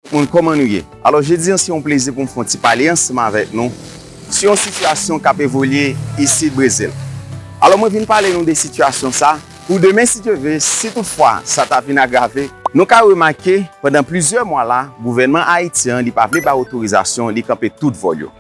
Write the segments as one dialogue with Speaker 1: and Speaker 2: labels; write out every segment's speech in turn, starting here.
Speaker 1: Tout moun kòman nou ye? Alò jodi an se yon plezi pou m fè yon ti pale ansanm avèk nou sou yon sitiyasyon k ap evolye isit Brezil. Alò mwen vin pale nou de sitiyasyon sa pou demen si Dye ve, si tout fwa sa ta vin agrave, nou ka remake pandan plizyè mwa la gouvènman Ayiti an li pa vle bay otorizasyon li kanpe tout vòl yo.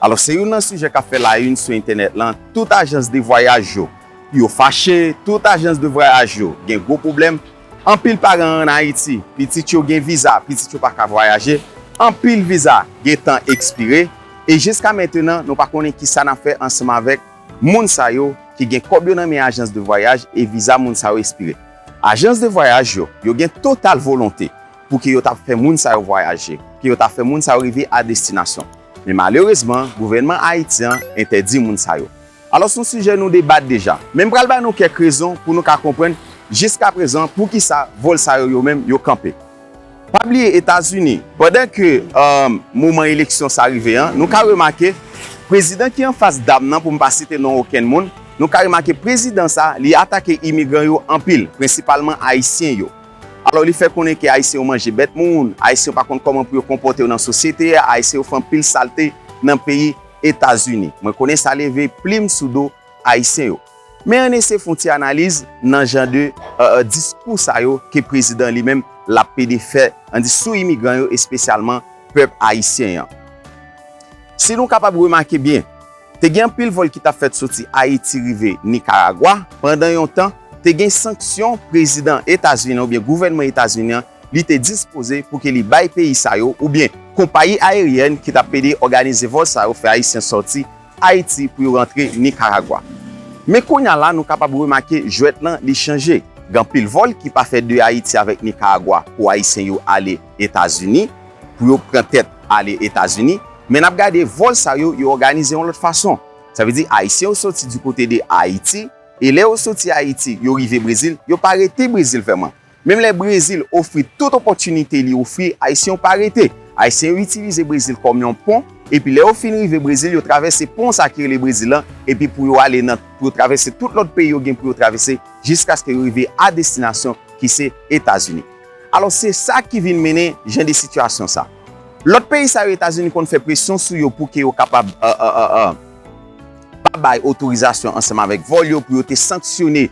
Speaker 1: Alò se youn nan sijè k ap fè la yn sou entènèt lan, tout ajans de vwayaj yo yo fache, tout ajans de vwayaj yo gen gwo pwoblèm, Anpil paran an Ayiti, pitit yo gen viza, pitit yo pa ka vwayaje, anpil viza gen tan ekspire, e jiska mentenan nou pa konnen ki sa n ap fè ansanm avèk moun sa yo ki gen kòb yo nan men ajans de vwayaj e viza moun sa yo espire. Ajans de vwayaj yo, yo gen total volonte pou ke yo ta fè moun sa yo vwayaje, pou ke yo ta fè moun sa yo rive a destinasyon, men malerezman gouvènman Ayiti an entèdi moun sa yo. Alò son sijè nou debat deja, men m pral bay nou kèk rezon pou nou ka konprann jiskaprezan poukisa vòl sa yo yo menm yo kanpe. Pa bliye Etazini, pandan ke moman eleksyon sa rive an, nou ka remake prezidan ki anfas dam nan pou m pa site non okenn moun, nou ka remake prezidan sa li atake imigran yo anpil, prensipalman ayisyen yo. Alò li fè konnen ke ayisyen yo manje bèt moun, ayisyen yo pa konn kòman pou yo konpòte yo nan sosyete a, ayisyen yo fè anpil salte nan peyi. Etazini. Mwen konnen sa leve plim sou do Ayisyen yo. Men ann eseye fon ti analiz nan jan de diskou sa yo ke prezidan li menm l ap pede fè ann di sou imigran yo espesyalman pèp Ayisyen an. Si nou kapab remake byen, te gen anpil vòl ki t ap fèt soti Ayiti rive Nikaragwa, pandan yon tan, te gen sanksyon prezidan Etazini an oubyen gouvènman Etazini an li te dispoze pou ke li bay peyi sa yo oubyen konpayi ayeryèn ki tap ede òganize vòl sa yo fè ayisyen sòti Ayiti pou yo rantre Nikaragwa. Men kounya la nou kapab remake jwèt lan li chanje. Gen anpil vòl ki pa fè de Ayiti avèk Nikaragwa pou ayisyen yo ale Etazini, pou yo pran tèt ale Etazini, men nap gade vòl sa yo, yo òganize yon lòt fason. Sa vle di ayisyen yo sòti di kote de Ayiti, e lè yo sòti Ayiti, yo rive Brezil, yo pa rete Brezil vèman. Menm lè Brezil ofri tout opòtinite li ofri Ayisyen yo pa rete. Ayisyen yo itilize Brezil kòm yon pon epi lè yo fin rive Brezil yo travèse pon sa ki rele Brezil lan epi pou yo ale nan pou yo travèse tout lòt peyi yo gen pou yo travèse jiskaske yo rive a destinasyon ki se Etazini. Alò se sa ki vin mennen jan de sitiyasyon sa. Lòt peyi sa yo Etazini konn fè presyon sou yo pou ke yo kapab pa bay otorizasyon ansanm avèk vòl yo pou yo te sanksyone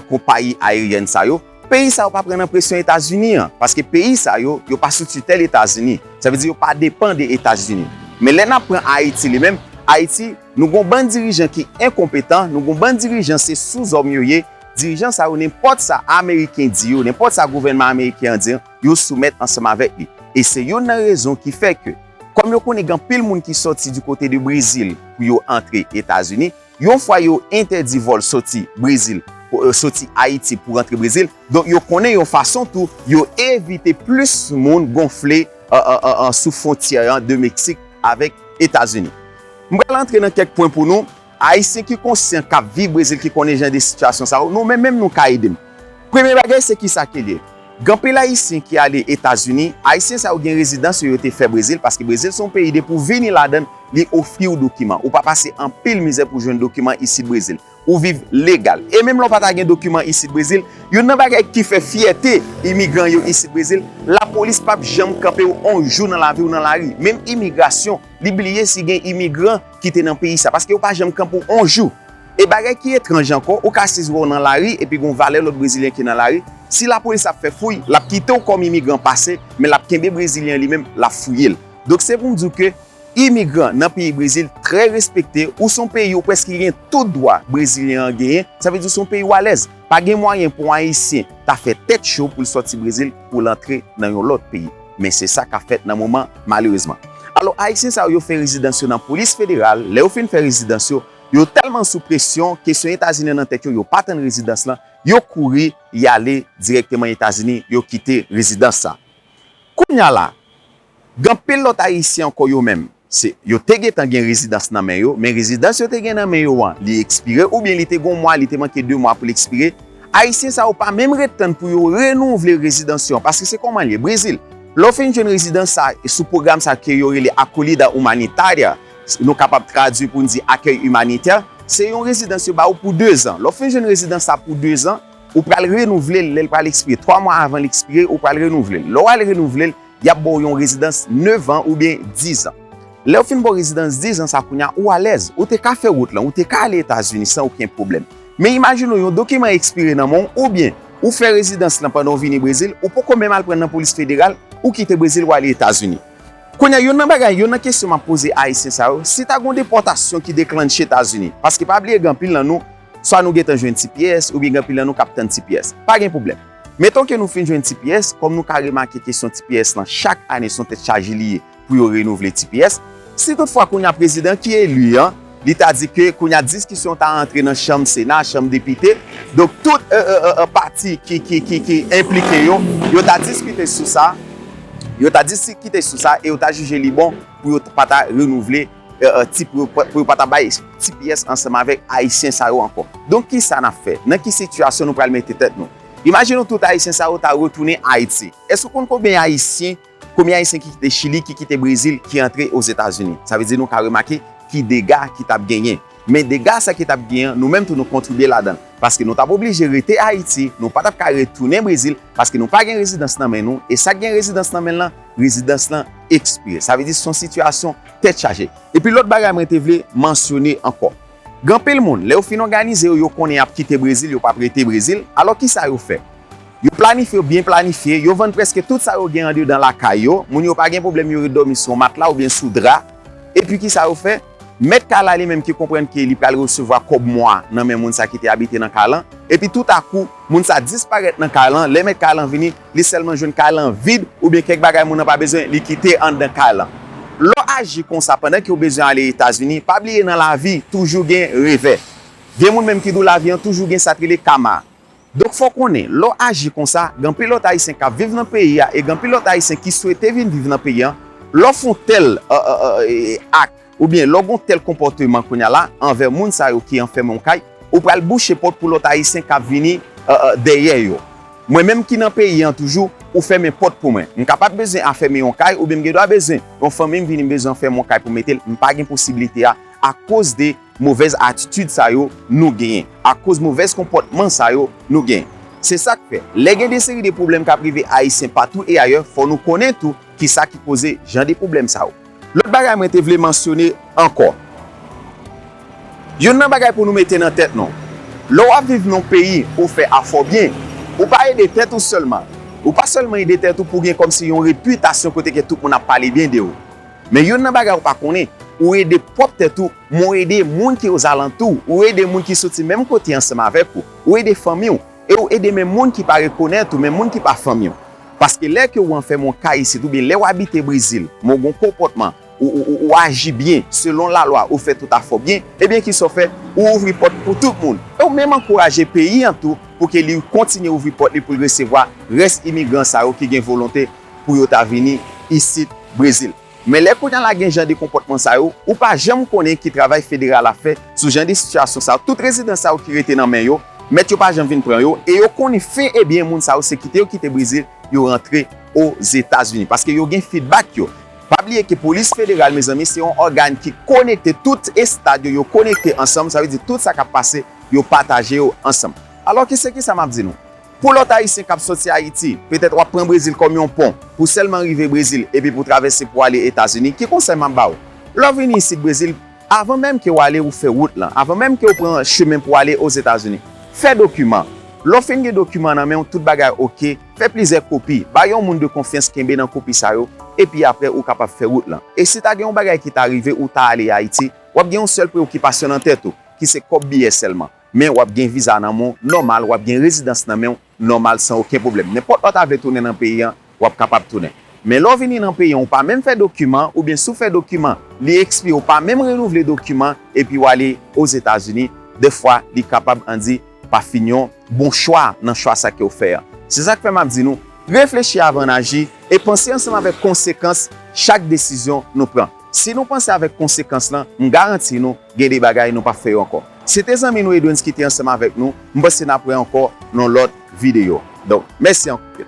Speaker 1: konpayi ayeryèn sa yo, peyi sa yo pa pran nan presyon Etazini an, paske peyi sa yo, yo pa sou titèl Etazini, sa vle di yo pa depan de Etazini. Men lè n ap pran Ayiti li menm, Ayiti, nou gon bann dirijan ki enkonpetan, nou gon bann dirijan se souzòm yo ye, dirijan sa yo nenpòt sa ameriken di yo, nenpòt sa gouvènman ameriken an di, yo soumèt ansanm avèk li. E se youn nan rezon ki fè ke, kòm yo konnen gen anpil moun ki sòti di kote de Brezil pou yo antre Etazini, Yon fwa yo entèdi vòl soti Brezil, soti Ayiti pou rantre Brezil, donk yo konnen yon fason tou yo evite plis moun gonfle sou fwontyè an de Meksik avèk Etazini. M pral antre nan kèk pwen pou nou, Ayisyen ki konsyan k ap viv Brezil ki konnen jan de sitiyasyon sa yo, nou menm menm nou ka ede m. Premye bagay se kisa ke li. Gen anpil ayisyen ki ale etazini, ayisyen sa yo gen rezidans yo yo te fè brezil paske brezil se yon peyi depi ou vini ladann li ofriw dokiman ou pa pase anpil mizè pou jwenn dokiman isit brezil ou viv legal e menm lè ou pa ta gen dokiman isit brezil youn nan bagay ki fè fyète imigran yo isit brezil lapolis pap janm kanpew on jou nan laviw nan lari menm imigrasyon li bliye si gen imigran ki te nan peyi sa paske yo pa janm kanpew on jou. E bagay ki etranj ankò, ou ka sizwe w nan lari epi gen yon valè lòt brezilyen ki nan lari, si lapolis ap fè fouy, l ap kite w kòm imigran pase, men l ap kenbe brezilyen an li menm, l ap fouye l. Donk se pou m di w ke imigran nan peyi Brezil trè respekte, ou se yon peyi ou prèske gen tout dwa brezilyen an genyen, sa vle di ou se yon peyi ou alèz. Pa gen mwayen pou yon ayisyen ta fè tèt cho pou l sòti Brezil pou l antre nan yon lòt peyi, men se sa k ap fèt nan moman malerezman. Alò ayisyen sa yo yo fè rezidans yo nan polis federal, lè yo fin fè rezidans yo, Yo tèlman sou presyon, kesyon Etazini an nan tèt yo, yo pa tann rezidans lan, yo kouri, y ale dirèkteman Etazini, yo kite rezidans sa. Kounye a la, gen anpil lòt Ayisyen ankò yo menm, se, yo te gentan gen rezidans nan men yo, men rezidans yo te gen nan men yo an, li ekspire oubyen li te gen yon mwa, li te manke de mwa pou l ekspire, Ayisyen sa yo pa menm ret tann pou yo renouvle rezidans yo an, paske se kòman l ye, Brezil, lè w fin jwenn rezidans sa, sou pwogram sa ke yo rele Acolhida Humanitária, Nou kapab tradui pou n di akèy imanitè. Se yon rezidans yo ba ou pou dezan. Lè w fin jwenn rezidans sa pou dezan, ou pral renouvle l lè l pral ekspire. Twa mwa avan l ekspire, ou pral renouvle l. Lè w al renouvle l, y ap ba w yon rezidans nevan oubyen dizan. Lè w fin ba w rezidans dizan sa kounye a, ou alèz. Ou te ka fè wout lan, ou te ka ale Etazini san okenn pwoblèm. Men imajine w yon dokiman ekspire nan men w oubyen ou fè rezidans lan pandan w vini Brezil, ou poko menm al pran l nan polis federal, ou kite Brezil w ale Etazini. Kounye a, youn nan bagay, youn nan kesyon m ap poze Ayisyen sa yo, si ta gen yon depòtasyon ki deklannche Etazini, paske pa bliye gen anpil nan nou, swa nou gentan jwenn ti pyès, oubyen gen anpil nan nou k ap tann ti pyès. Pa gen pwoblèm. Meton ke nou fin jwenn ti pyès, kòm nou ka remake kesyon ti pyès lan, chak ane s on tèt chaje li ye pou yo renouvle ti pyès. Si tout fwa kounye a prezidan ki eli an, Li ta di ke kounye a diskisyon ta antre nan chanm sena, chanm depite, donk tout pati ki enplike yo, yo ta diskite sou sa, yo ta diskite sou sa e yo ta jije li bon pou yo pa ta renouvle ti, pou yo pa ta bay ti pyès ansanm avèk Ayisyen sa yo ankò. Donk ki sa n ap fè? Nan ki sitiyasyon nou pral mete tèt nou? Imajine w tout Ayisyen sa yo ta retounen Ayiti. Èske w konn konbyen Ayisyen Konbyen ayisyen ki kite chili ki kite brezil ki antre ozetazini sa vle di nou ka remake ki dega ki tap genyen men dega sa ki tap gen an nou menm tou nou kontribye ladanl paske nou tap oblije rete ayiti nou patap ka retounen brezil paske nou pa gen rezidans nan men nou e sak gen rezidans nan menl lan rezidans lan ekspire sa vle di son sitiyasyon tèt chaje epi lòt bagay mwen te vle mansyone ankò. Gen anpil moun, lè yo fin òganize yo, yo konnen y ap kite Brezil, yo p ap rete Brezil. Alò ki sa yo fè? Yo planifye, yo byen planifye, yo vann prèske tout sa yo gen andedan lakay yo, moun yo pa gen pwoblèm yo ret dòmi sou yon matla oubyen sou dra. Epi ki sa yo fè? Mèt kay la li menm ki konprann ke li pral resevwa kòb mwa nan men moun sa ki te abite nan kay lan, epi toutakou, moun sa disparèt nan kay lan, lè mèt kay lan vini, li sèlman jwenn kay lan vid oubyen kèk bagay moun nan pa bezwen li kite anndan kay lan. Lè w aji konsa pandan ke w bezwen ale Etazini, pa bliye nan lavi toujou gen revè. Gen moun menm ki di w lavi an toujou gen sa k rele kama. Donk fò w konnen, lè w aji konsa, gen anpil lòt Ayisyen k ap viv nan peyi a e gen anpil lòt Ayisyen ki swete vin viv nan peyi an, lè w fon tèl ak. Oubyen lè w gon tèl konpòteman kounya la anvè moun sa yo ki anfèmen w kay, ou pral bouche pòt pou lòt ayisyen k ap vini dèyè yo. Mwen menm ki nan peyi an toujou, ou fèmen pòt pou mwen. M kapab bezwen afèmen yon kay oubyen m gen dwa bezwen yon fanmi m vini m bezwen anfèmen yon kay pou m mete l, m pa gen posibilite a akoz de movèz atitid sa yo nou genyen, akoz movèz konpòtman sa yo nou genyen. Se sa k fè, lè gen de seri de pwoblèm k ap rive ayisyen patou e ayè, fò nou konnen tou kisa ki koze jan de pwoblèm sa yo. Lòt bagay mwen te vle mansyone ankò. Yonn nan bagay pou nou mete nan tèt nou. Lè w ap viv nan yon peyi pou w fè afè w byen, ou pa ede tèt ou sèlman. Ou pa sèlman ede tèt ou pou w gen kòmsi yon repitasyon kote ke tout moun ap pale byen de ou. Men yonn nan bagay ou pa konnen, ou ede pwòp tèt ou, men w ede moun ki ozalantou w. Ou ede moun ki soti menm kote ansanm avèk ou. Ou ede fanmi w. E ou ede men moun ki pa rekonèt ou, men moun ki pa fanmi w. Paske lè ke ou anfèmen yon kay isit, oubyen lè ou abite Brezil, men ou gen yon konpòtman, ou, ou, ou, ou aji byen, selon lalwa, ou fè tout afè w byen, ebyen ki sa ou fè? Ou ouvri pòt ou pou tout moun. E ou menm ankouraje peyi an tou pou ke li kontinye ouvri pòt li pou l resevwa rès imigran sa yo ki gen volonte pou yo ta vini isit Brezil. Men lè kounye a la gen jan de konpòtman sa yo, ou pa janm konnen ki travay federal ap fè sou jan de sitiyasyon sa yo. Tout rezidans sa yo ki rete nan men yo, mèt yo pa janm vin pran yo, e yo konnen fen e byen moun sa yo se kite yo kite Brezil, yo rantre Ozetazini. Paske yo gen fidbak yo. Pa bliye ke polis federal mezanmi se yon ògàn ki konekte tout estad yo, yo konekte ansanm, sa vle di tout sa kap pase yo pataje yo ansanm. Alò ki se kisa map di nou? Pou lòt Ayisyen k ap sòti Ayiti, petèt w ap pran Brezil kòm yon pon pou sèlman rive Brezil epi pou travèse pou ale Etazini. Ki konsèy m ap ba ou? Lè w vini isit Brezil, avan menm ke w ale ou fè wout lan, avan menm ke w pran chemen pou ale Ozetazini, fè dokiman. Lè w fin gen dokiman nan men w, tout bagay oke, fè plizyè kopi, ba yon moun de konfyans kenbe nan kopi sa yo, epi apre ou kapab fè wout lan. E si ta gen yon bagay ki ta rive ou ta ale Ayiti, w ap gen yon sèl preokipasyon nan tèt ou, ki se kòb biyè sèlman. Men wap gen viza nan menw nòmal wap gen rezidans nan menw nòmal san oken pwoblèm nenpòt lè w ta vle tounen nan peyi an wap kapab tounen men lè w vini nan peyi an ou pa menm fè dokiman oubyen si w fè dokiman li ekspire ou pa menm renouvle dokiman epi w ale ozetazini dèfwa li kapab andi pa fin yon bon chwa nan chwa sa kew fè an se sak fè map di nou reflechi avan n aji e panse ansanm avèk konsekans chak desizyon nou pran. Si nou panse avèk konsekans lan, m garanti nou, gen de bagay nou pap fè yo ankò. Se te zanmi nou Edwens ki te ansanm avèk nou, m panse nap wè ankò nan yon lòt videyo. Donk, mèsi anpil.